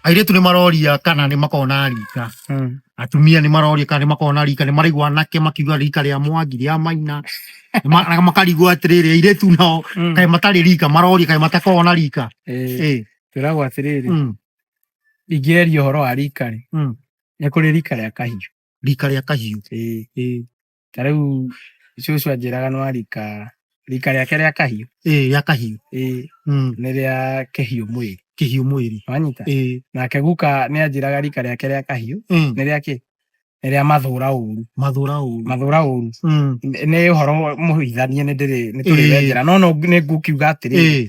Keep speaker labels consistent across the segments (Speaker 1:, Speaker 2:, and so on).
Speaker 1: airĩtu nĩ maroria kana nĩ makoragwo na rika Mm. atumia nĩ maroria kana nĩ makoragwo na rika nĩ maraigua anake makiuga rika rĩa mwangi rĩa maina Nĩ ma- na makarigwo atĩrĩrĩ airĩtu nao Mm. kaĩ matarĩ rika maroria kaĩ matakoragwo na rika Eh, Ĩ, Twĩragwo
Speaker 2: atĩrĩrĩ, mm, ingĩeria ũhoro wa rika-rĩ, mm. nĩ kũrĩ rika rĩa kahiũ. rika rĩa kahiũ
Speaker 1: Ĩ, ĩ.
Speaker 2: ta rĩu cũcũ anjĩraga no arika rika rĩake rĩa kahiũ ĩĩ ya kahiũ
Speaker 1: ĩĩ Mm, nĩ
Speaker 2: rĩa kĩhiũ mwĩrĩ kĩhiũ mwĩrĩ
Speaker 1: wanyita ĩĩ
Speaker 2: nake guka nĩ anjĩraga rika rĩake rĩa kahiũ Mm, nĩ rĩa kĩ nĩ rĩa mathũra ũru mathũra ũru mathũra
Speaker 1: ũru Mm,
Speaker 2: Nĩ- nĩ ũhoro mũhithanie nĩ ndĩrĩ nĩ tũrĩ Ĩĩ. wenjera no no nĩ ngũkiuga atĩrĩ ĩĩ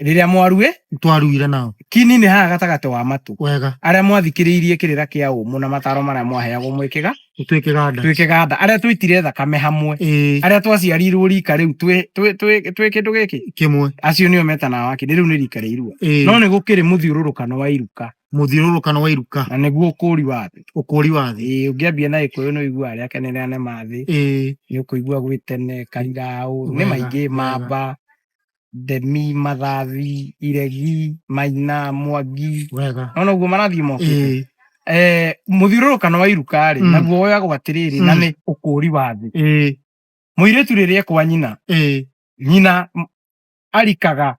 Speaker 2: rĩrĩa mwaruĩ twaruire nao
Speaker 1: kini nĩ haha gatagatĩ
Speaker 2: wa matũ wega arĩa mwathikĩrĩirie kĩrĩra kĩa ũmũ na mataro marĩa mwaheagwo mwĩkĩga twĩke ganda twĩke ganda arĩa twaitire thakame hamwe ĩĩ arĩa twaciarirwo rika rĩu twĩ twĩ- twĩ twĩ kĩndũ gĩkĩ kĩmwe acio nĩo
Speaker 1: metanaga
Speaker 2: akĩ rĩu nĩ rika rĩa irua no ĩĩ nĩ gũkĩrĩ mũthiũrũrũkano wa iruka mũthiũrũrũkano wa iruka
Speaker 1: na nĩguo ũkũri wa
Speaker 2: thĩ ũkũri wa thĩ Ĩĩ,
Speaker 1: ũngĩambia na gĩkũyũ nĩ
Speaker 2: ũiguaga rĩa kene rĩa nema thĩ ĩĩ nĩ ũkũigua gwĩtene kairaũ nĩ Wega, maingĩ wega. mamba ndemi mathathi iregi maina mwangi wega ona guo marathi mo ĩĩ eh muthiururukano wa iruka ri Mm. naguo woyagwo atiriri na Mm. ni ukuri wa thi ĩĩ muiritu riri ekwa nyina ĩĩ nyina m- arikaga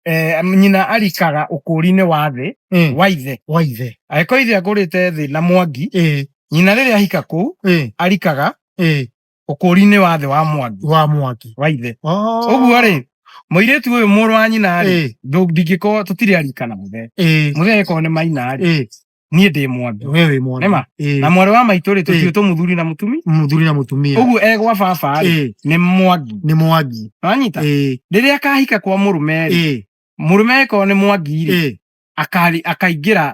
Speaker 2: eh nyina arikaga ukuri-ini wa thi ĩĩ wa ithe wa ithe agĩkorwo ithe agũrĩte thĩ na mwangi ĩĩ nyina rĩrĩa ahika kũu ĩĩ arikaga ĩĩ ũkũũri-inĩ wa thĩ wa mwaki wa mwaki wa ithe Oh. ũguo rĩ mũirĩtu ũyũ mũrũ wa nyina rĩ Eh, ndũ- ndingĩkorwo tũtirĩ arikana mũthe eh, mũthe ĩkorwo nĩ maina rĩ eh, niĩ ndĩ mwandu we wĩ mwana Nĩma? Eh, na mwarĩ wa maitũ rĩ tũtiũ Eh. tũmũthuri na mũtumi mũthuri na mũtumia ũguo e gwa baba rĩ Eh, nĩ mwangi nĩ mwagi wanyita Eh, rĩrĩa akahika kwa mũrũme rĩ eh, mũrũme ĩkorwo nĩ mwangi rĩ eh, akari- akaingĩra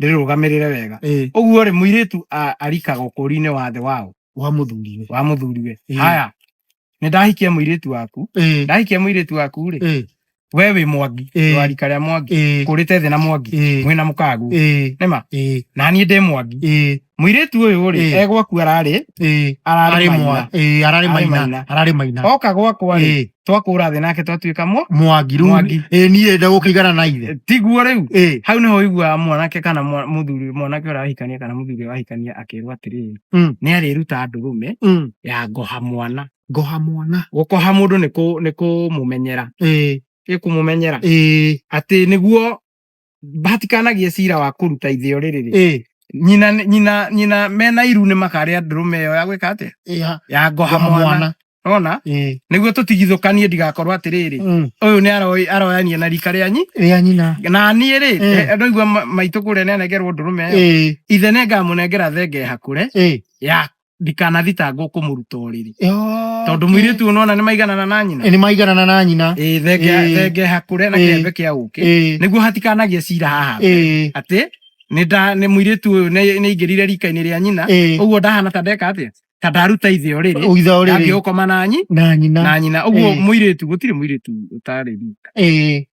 Speaker 2: ndĩrĩrũgamĩrĩre wega ĩĩ ũguo rĩ mũirĩtu a- arikaga ũkũri-inĩ wa thĩ wao wa mũthuriwe wa mũthuriwe Ĩĩ. haya nĩ ndahikia mũirĩtu waku ĩĩ ndahikia mũirĩtu waku rĩ ĩĩ we wĩ mwangi Ĩĩ. ndwarika rĩa mwangi ĩĩ kũrĩte thĩ na mwangi ĩĩ mwĩna mũkagu ĩĩ nĩma ĩĩ na niĩ ndĩ mwangi ĩĩ mũirĩtu ũyũ rĩ Ĩĩ. egwaku ararĩ ĩĩ ararĩ ararĩ mwa mwa ĩĩ ararĩ Ararĩ maina maina. ararĩ maina oka gwakwa rĩ ĩĩ twakũra thĩ nake twatuĩka mwa mwangi rĩu Mwangi.
Speaker 1: ĩĩ niĩ ndagũkĩigana na ithe tiguo rĩu ĩĩ
Speaker 2: hau nĩho ũiguaga mwanake kana mwa- mũthuri mwanake ũrĩa wahikania kana mũthuri ũrĩa wahikania akĩrwo atĩrĩrĩ Mm. nĩ arĩruta ndũrũme Mm. ya ngoha mwana ngoha mwana gũkoha mũndũ nĩ kũ- nĩ kũmũmenyera ĩĩ ĩ kũmũmenyera ĩĩ atĩ nĩguo batikanagia cira wa kũruta ithĩo rĩrĩ rĩ ĩ nyina nyina nyina mena iru nĩ makarĩa ndũrũme ĩyo ya gwĩka atĩa ĩ ha ya ngoha ngoha mwana mwana ona ĩ nĩguo tũtigithũkanie ndigakorwo atĩrĩrĩ Mm. ũyũ nĩ aroy- aroyania na rika rĩa nyi rĩa nyina na niĩ rĩ Mm. eh, ndoigua ma- maitũ kũrĩa nĩanengerwo ndũrũme ĩyo ĩ ithe nĩngamũnengera thenge hakũre ĩ ya ndikanathitangwo kũmũruta ũrĩrĩ tondũ mũirĩtu ũyũ nona nĩ maiganana na nyina nĩ maiganana na nyina Ĩĩ, thenge Ĩĩ. thenge hakũre na Ĩĩ. kĩembe kĩa ũkĩ Ĩĩ. nĩguo hatikanagie cira haha Ĩĩ. atĩ nĩ nda- nĩ mũirĩtu ũyũ nĩ- nĩ aingĩrire rika-inĩ rĩa nyina Ĩĩ. ũguo ndahana ta ndeka atĩa ta ndaruta ithe ũrĩrĩ ũitha ũrĩrĩ ndangĩũkoma na nyi na nyina na nyina ũguo Ĩĩ. mũirĩtu gũtirĩ mũirĩtu ũtarĩ rika Ĩĩ.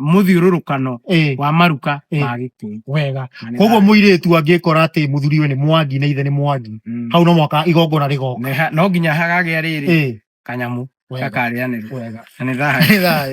Speaker 2: mũthiũrũrũkano ĩĩ wa maruka Eh. ma gĩkũyũ wega Na nĩ koguo
Speaker 1: mũirĩtu angĩkora atĩ mũthuriwe nĩ mwangi na ithe nĩ mwangi Mm. hau no mwaka igongona rĩgoka Nĩ ha- no nginya
Speaker 2: hagagĩa rĩrĩ ĩĩ kanyamũ
Speaker 1: wega
Speaker 2: gakarĩanĩrwo wega na nĩ thayo Nĩ thayo.